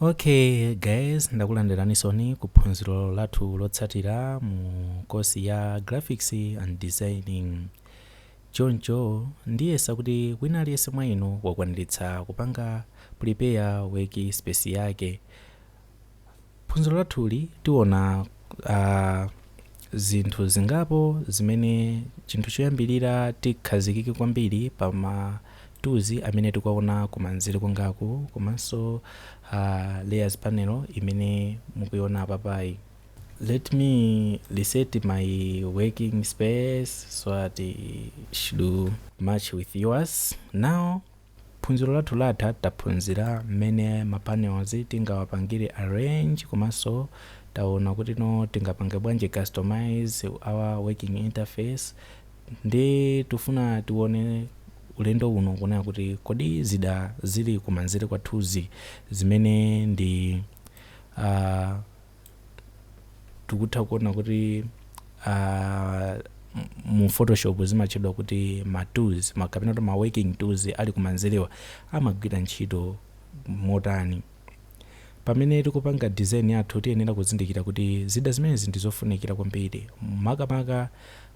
Ok guys ndakulandiranisoni ku phunziro lathu lotsatira mu kosi ya graphics and designing choncho ndiyesa kuti wina aliyense mwa inu wakwaniritsa kupanga prepare work space yake phunziro lathuli tiona uh, zinthu zingapo zimene chinthu choyambirira tikhazikike kwambiri pa ma tools amene tikuwaona kumanzere kwangaku komanso a layers panel imene mukuiona apapayi let me reset my working space so that it should match with yours now Phunziro lathu latha taphunzira mmene ma panels tingawapangire arrange komanso taona kutino tingapange bwanji customise our working interface nde tifuna tione ulendo uno kunena kuti kodi zida zili kumanzere kwathuzi zimene ndi aah tikutha kuona kuti ah, m- mu photoshop zimatchedwa kuti ma tools ma- kapena kuti ma working tools ali kumanzerewa amagwira ntchito motani pamene tikupanga design yathu tiyenera kuzindikira kuti zida zimenezi ndi zofunikira kwambiri makamaka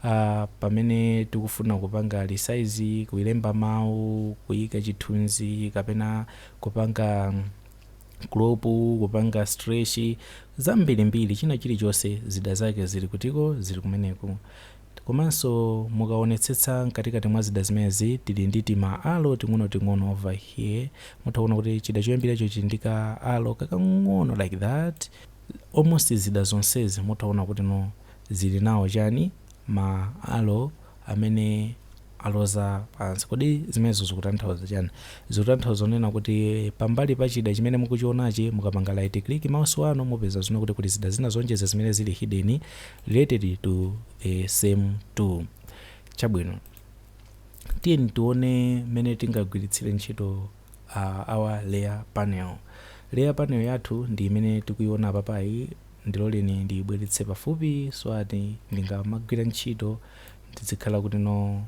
uh, pamene tikufuna kupanga resize kuilemba mawu kuyika chithunzi kapena kupanga mm, crop kupanga stretch zambirimbiri china chilichonse zida zake zili kutiko zili kumeneku komanso mukaonetsetsa mkatikati mwa zida zimenezi tili ndi tima arrow ting'onoting'ono over here mutha kuona kuti chida choyambiracho chili ndi ka arrow kakang'ono like that almost zida zonsezi mutha kuona kuti no zili nawo chani ma arrow amene aloza pansi. Kodi zimenezo zikutanthauza chiyani? Zikutanthauza kunena kuti pambali pa chida chimene mukuchionachi, mukapanga right click mouse wanu mupeza zoona kuti kuli zida zina zoonjeza zimene zili hidden related to the same tool. Chabwino, tiyeni tione mmene tingagwiritsire ntchito uh, our layer panel. Layer panel yathu ndi imene tikuiona apapayi, ndiloleni ndiyibweretse pafupi so that ndingamagwira ntchito ndizikhala kuti no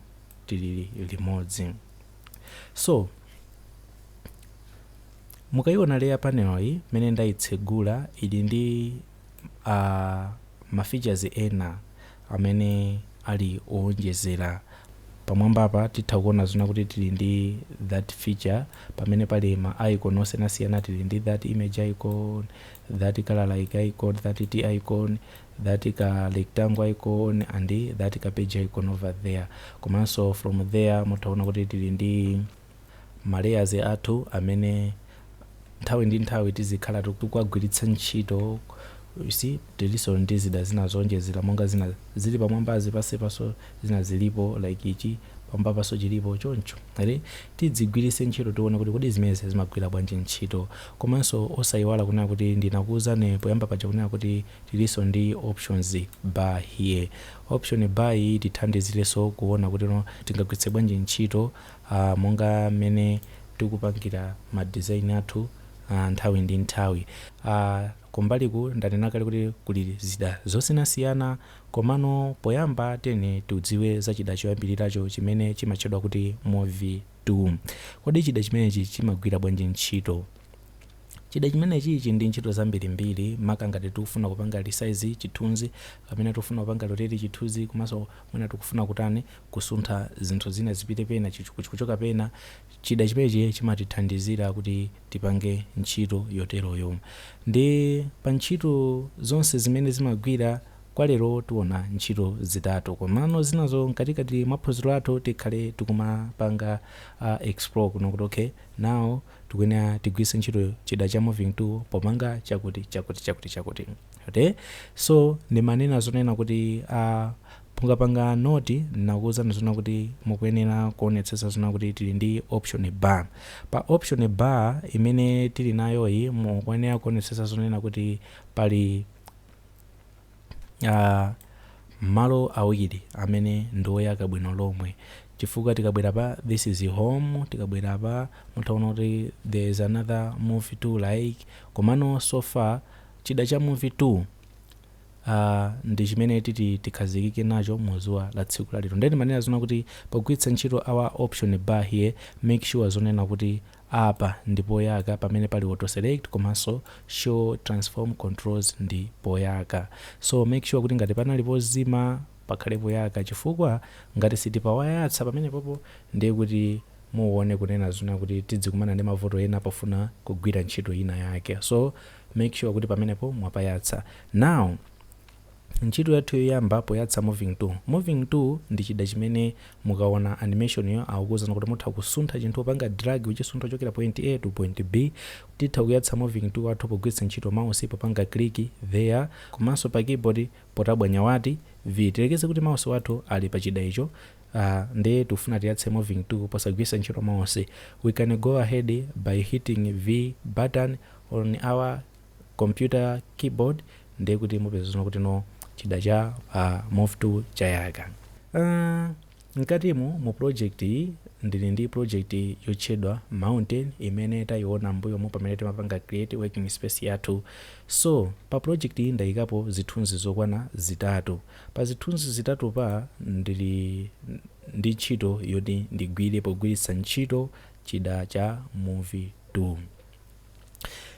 tili limodzi so mukaiona layer panel yi mmene ndaitsegula ili ndi a ma features ena amene ali oonjezera pamwambapa titha kuona zoona kuti tili ndi that feature pamene pali ma icon osiyanasiyana tili ndi that image icon that color like icon that T icon that ka rectangle icon and that ka page icon over there komanso from there mutha kuona kuti tili ndi ma layers athu amene nthawi ndi nthawi tizikhala tikuwagwiritsa ntchito you see tilinso ndi zida zina zoonjezera monga zina zili pamwambazi pansi panso zina zilipo like ichi pamwambapanso chilipo choncho ndiye tidzigwiritse ntchito tione kuti kodi zimenezi zimagwira bwanji ntchito komanso osayiwala kunena kuti ndinakuwuzani poyamba paja kunena kuti Tilinso ndi options bar here. Option bar iyi itithandizirenso kuona kuti tingagwiritse bwanji ntchito monga mmene tikupangira ma design athu nthawi ndi nthawi. Kumbaliku ndanena kale kuti kuli zida zosiyanasiyana komano poyamba tiyeni tidziwe za chida choyambiriracho chimene chimatchedwa kuti Move Tool. Kodi chida chimenechi chimagwira bwanji ntchito? Chida chimenechi chili ndi ntchito zambirimbiri maka ngati tikufuna kupanga resize chithunzi kapena tikufuna kupanga rotate chithunzi komanso mwina tikufuna kutani kusuntha zinthu zina zipite pena kuchoka pena chida chimenechi chimatithandizira kuti tipange ntchito yoteroyo ndi pa ntchito zonse zimene zimagwira kwa lero tiona ntchito zitatu komano zinazo mkatikati mwa phunziro lathu tikhale tikumapanga explore kunena kuti okay now tikuyenera tigwiritse ntchito chida cha moving tool popanga chakuti chakuti chakuti chakuti okay so ndimanena zonena kuti a pungapanga note nakuwuzani zonena kuti mukuyenera kuonetsetsa zonena kuti tili ndi option bar pa option bar imene tili nayoyi mukuyenera kuonetsetsa zonena kuti pali Aaa malo awiri amene ndi oyaka bwino lomwe chifukwa tikabwera pa this is home tikabwera pa mutha kuona kuti there is another move tool like komano so far chida cha move tool uh, ndi chimene titi tikhazikike nacho mu dzuwa la tsiku la lero nde ndimanena zonena kuti pogwiritsa ntchito our option bar here make sure zonena kuti Apa ndi poyaka pamene pali auto select komanso show transform controls ndi poyaka so make sure kuti ngati panali pozima pakhale poyaka chifukwa ngati sitinapayatse pamenepopo ndiye kuti muone kunena zonena kuti tidzikumana ndi mavuto ena pofuna kugwira ntchito ina yake so make sure kuti pamenepo mwapayatsa now Ntchito yathu yoyamba poyatsa moving tool. Moving tool ndi chida chimene mukaona animation-yo akukuuzani kuti mutha kusuntha chinthu popanga drag kuchisuntha kuchokera point A to point B. Titha kuyatsa moving tool wathu pogwiritsa ntchito mouse popanga click there komanso pa keyboard potabwanya batani, V. Tiyerekeze kuti mouse wathu ali pa chida icho Uh, nde tikufuna tiyatse moving tool posagwiritsa ntchito mouse. We can go ahead by hitting V button on our computer keyboard ndiye kuti mupeza zona kuti no chida cha move tool chayaka uh, mkatimu mu project iyi ndili ndi project yotchedwa mountain imene tayiona mbuyomu pamene timapanga create working space yathu so pa project iyi ndayikapo zithunzi zokwana zitatu pa zithunzi zitatu pa ndili ndi ntchito yoti ndigwire pogwiritsa ntchito chida cha move tool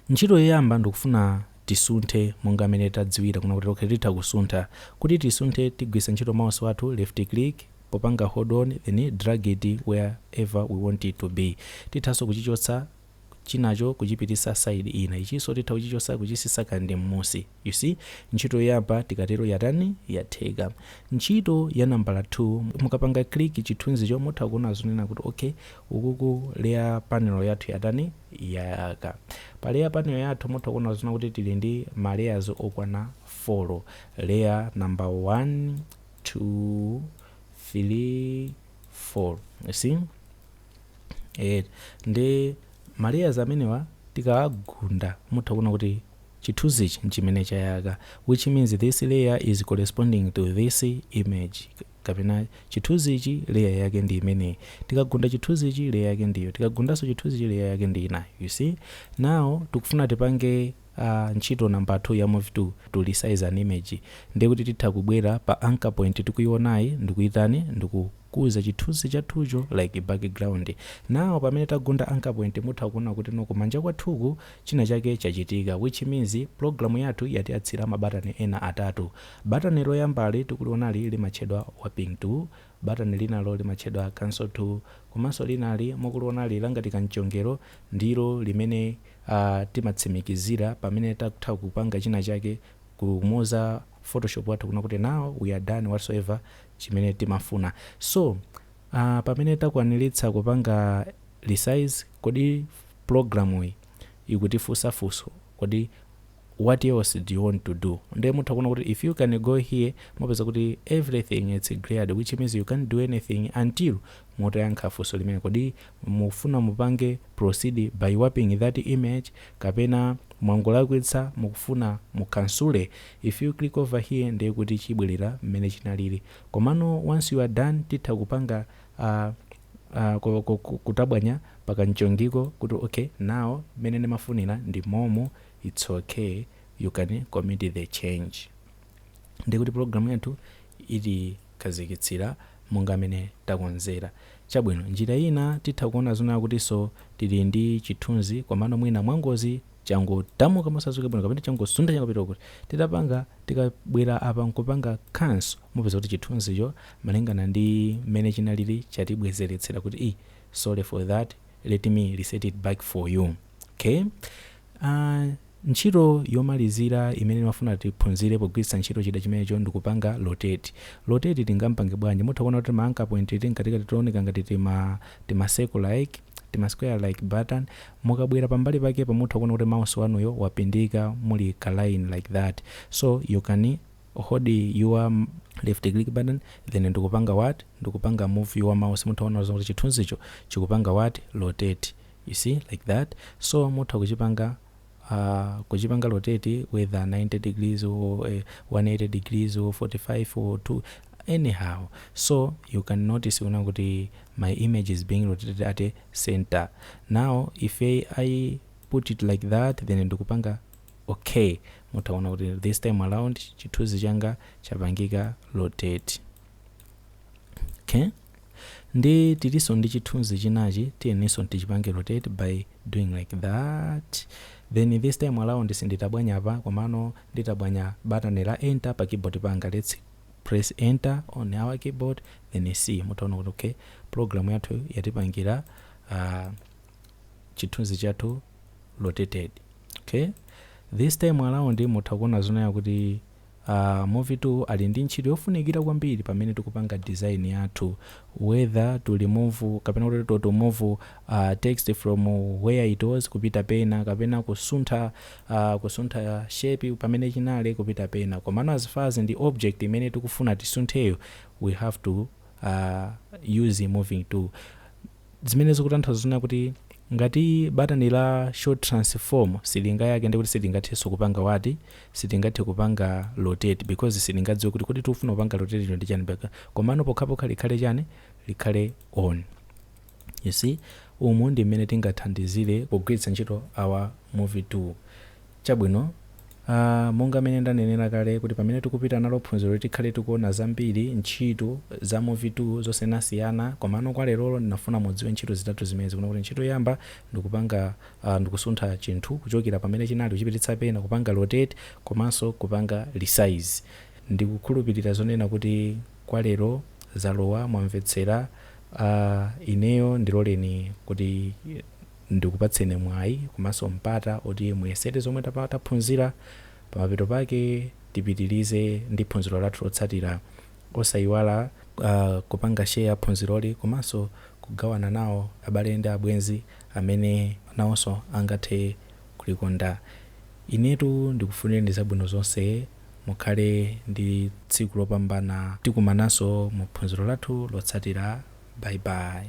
Ntchito yoyamba ndikufuna tisunthe monga mmene tadziwira kunena kuti okay titha kusuntha. Kuti tisunthe tigwiritsa ntchito mouse wathu, left click, popanga hold on then drag it where ever we want it to be. Tithanso kuchichotsa chinacho kuchipititsa side ina. Ichinso titha kuchichotsa kuchitsitsa kandi mmusi. You see, ntchito yoyamba tikatero yatani? Yatheka. Ntchito ya nambala 2, mukapanga click chithunzicho mutha kuona zonena kuti ok, ukuku layer panel yathu yatani? Yayaka. Pa layer panel yathu mutha kuona zonena kuti tili ndi ma layers okwana 4. Layer number 1, 2, 3, 4. You see? Eh, ndi ma layers amenewa tikawagunda mutha kuona kuti chithunzichi nchimene chayaka which means this layer is corresponding to this image kapena chithunzichi layer yake ndi imeneyi tikagunda chithunzichi layer yake ndiyo tikagundanso chithunzichi layer yake ndi inayo you see now tikufuna tipange uh, ntchito number 2 ya move tool to resize an image ndiye kuti titha kubwera pa anchor point tikuionayi ndikuyitani ndikukuza chithunzi chathucho like background now pamene tagunda anchor point mutha kuona kuti no kumanja kwathuku China chake chachitika which means program yathu yatiyatsira mabatani ena atatu. Batani loyambali tikulionali limatchedwa Warping tool, batani linalo limatchedwa Cancel tool komanso linali mukulionali langati kamchongero ndilo limene aah timatsimikizira pamene tatha kupanga china chake kumuuza photoshop wathu kunena kuti now we are done whatsoever chimene timafuna. So aah pamene takwaniritsa kupanga resize kodi. pulogalamuyi ikutifunsa funso kodi what else do you want to do nde mutha kuona kuti if you can go here mupeza kuti everything is greyed which means you can't do anything until mutayankha funso limene kodi mufuna mupange proceed by warping that image kapena mwangolakwitsa mukufuna mukhansule if you click over here ndiye kuti chibwerera mmene chinalili komano once you are done titha kupanga uh, kutabwanya pa kamchongiko kuti ok now mmene ndimafunira ndi momo its ok you can commit the change ndiye kuti program yathu ilikhazikitsira monga mmene takonzera chabwino njira ina titha kuona zonena kuti so tili ndi chithunzi komano mwina mwangozi changothamuka mosadziwika bwino kapena changosuntha chakapita kuti. Titapanga, tikabwera apa n'kupanga cancel, mupeza kuti chithunzicho malingana ndi mmene chinalili chatibwezeretsera kuti ii sorry for that, let me reset it back for you. Okay, a Ntchito yomalizira imene ndimafuna tiphunzire pogwiritsa ntchito chida chimenecho ndi kupanga rotate. Rotate tingam'pange bwanji? Mutha kuona kuti tima anchor point timeneti tikuoneka ngati tima, tima circle like. tima square like that mukabwera pambali pakepa mutha kuona kuti mouse wanuyo wapindika muli ka line like that so you can hold your left click button then ndikupanga what ndikupanga move your mouse mutha kuona kuti chithunzicho chikupanga what rotate you see like that so mutha kuchipanga Aaa kuchipanga rotate whether 90 degrees or 180 degrees or 45 or 2 anyhow so you can notice kunena kuti my image is being rotated at a center now if I put it like that then ndikupanga ok mutha kuona kuti this time around chithunzi changa chapangika rotate. okay ndi tilinso ndi chithunzi chinachi tiyeninso tichipange rotate by doing like that then this time around sinditabwanya apa komano nditabwanya button la enter pa keyboard panga let's press enter on our keyboard then see mutaona kuti okay program yathu yatipangira uh, chithunzi chathu rotated okay this time around mutha kuona zonena kuti A move tool ali ndi ntchito yofunikira kwambiri pamene tikupanga design yathu whether to remove kapena kuti to to move text from where it was kupita pena kapena kusuntha kusuntha shape pamene inali kupita pena komano as far as ndi object imene tikufuna tisuntheyo we have to use moving tool. zimene zikutanthauza zonena kuti ngati batani la show transform silingayake ndiye kuti silingathenso kupanga what silingathe kupanga rotate because silingadziwe kuti kodi tikufuna kupanga rotate ino ndi chani mpaka komano pokhapokha likhale chani likhale on you see umu ndi mmene tingathandizire pogwiritsa ntchito our move tool Chabwino, a, monga mmene ndanenera kale, kuti pamene tikupita nalo phunziro ili tikhale tikuona zambiri, ntchito, za move tool, zosiyanasiyana, komano kwa lerolo ndinafuna mudziwe ntchito zitatu zimenezi, kunena kuti ntchito yoyamba ndikupanga a, ndikusuntha chinthu kuchokera pamene chinali kuchipititsa pena, kupanga rotate, komanso kupanga resize. Ndikukhulupirira zonena kuti kwa lero zalowa, mwamvetsera, a, ineyo ndiloleni kuti. ndikupatseni mwayi komanso mpata oti muyesere zomwe taphunzira pamapeto pake tipitilize ndi phunziro lathu lotsatira osayiwala kupanga share phunziroli komanso kugawana nawo abale ndi abwenzi amene nawonso angathe kulikonda inetu ndikufunireni zabwino zonse mukhale ndi tsiku lopambana tikumananso mu phunziro lathu lotsatira bye bye.